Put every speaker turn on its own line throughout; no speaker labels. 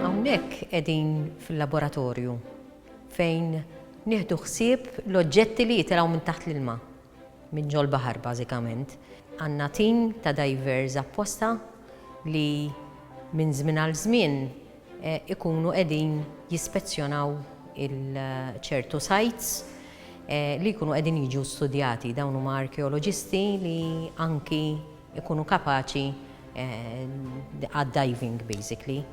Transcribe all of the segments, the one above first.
Hawnhekk qegħdin fil-laboratorju fejn nieħdu ħsieb l-oġġetti li jitilgħu minn taħt l-ilma, minn ġol-baħar bażikament. Għandna tim ta' divers apposta li minn żmien għal żmien ikunu qegħdin jispezzjonaw il-ċertu sites li jkunu qegħdin jiġu studjati. Dawn huma arkeoloġisti li anki ikunu kapaċi għad-diving basically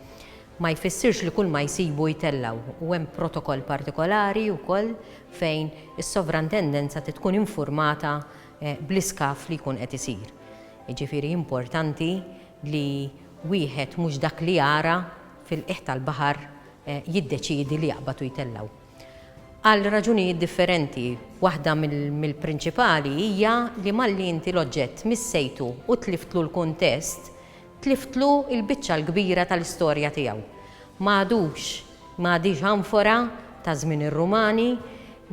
ma jfissirx li kull ma jsibu jtellaw u hemm protokoll partikolari wkoll fejn is-sovrantendenza tkun informata eh, bl-iskaf li jkun qed isir. Jiġifieri importanti li wieħed mhux dak li jara fil-qiegħ tal-baħar jiddeċiedi li jaqbad u jtellgħu. Għal raġunijiet differenti, waħda mill-prinċipali hija li malli inti l-oġġett missejtu u tliftlu l-kuntest, tliftlu l-biċċa l-kbira tal-istorja tiegħu. Ma għadux Ma għadhiex anfora ta' żmien ir-Rumani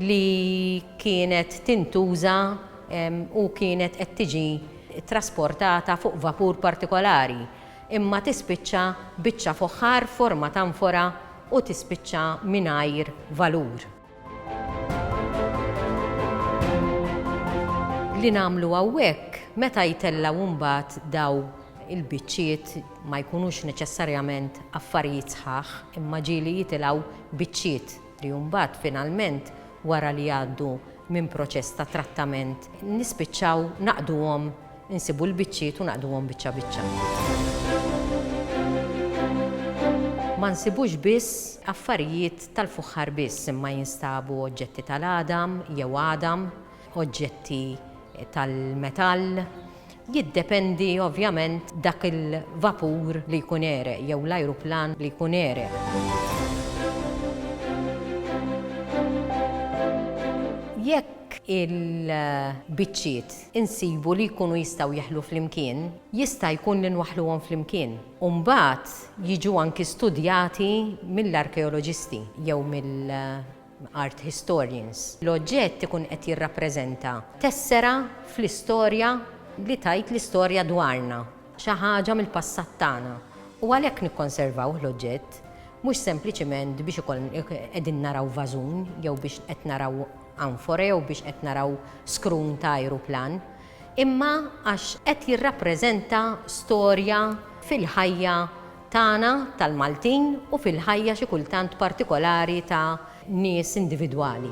li kienet tintuża u kienet qed tiġi ttrasportata fuq vapur partikolari, imma tispiċċa biċċa foħħar f'forma t'anfora u tispiċċa mingħajr valur. Li nagħmlu hawnhekk meta jtellgħu imbagħad daw il-biċċiet ma jkunux neċessarjament affarijiet sħaħ imma ġieli jitilgħu biċċiet li mbagħad finalment wara li jgħaddu minn proċess ta' trattament nispiċċaw naqduhom Insibu l-biċċiet u naqduhom biċċa biċċa. Ma nsibux biss affarijiet tal-fuħħar biss imma jinstabu oġġetti tal-għadam jew għadam, oġġetti tal-metall, jiddependi ovvjament dak il-vapur li jkun għereq jew l-ajruplan li jkun għereq. Jekk il-biċċiet insibu li jkunu jistgħu jeħlu flimkien, jista' jkun li nwaħħluhom flimkien u mbagħad jiġu anki studjati mill-arkeoloġisti jew mill-art historians. L-oġġett ikun qed jirrappreżenta tessera fl-istorja li tgħid l-istorja dwarna, xi ħaġa mill-passat tagħna, u għalhekk nikkonservawh l-oġġett, mhux sempliċiment biex ikollna qegħdin naraw vażun jew biex qed naraw hawn fora jew biex qed naraw scroon ta' ajruplan, imma għax qed jirrappreżenta storja fil-ħajja tagħna tal-Maltin u fil-ħajja xi kultant partikolari ta' nies individwali.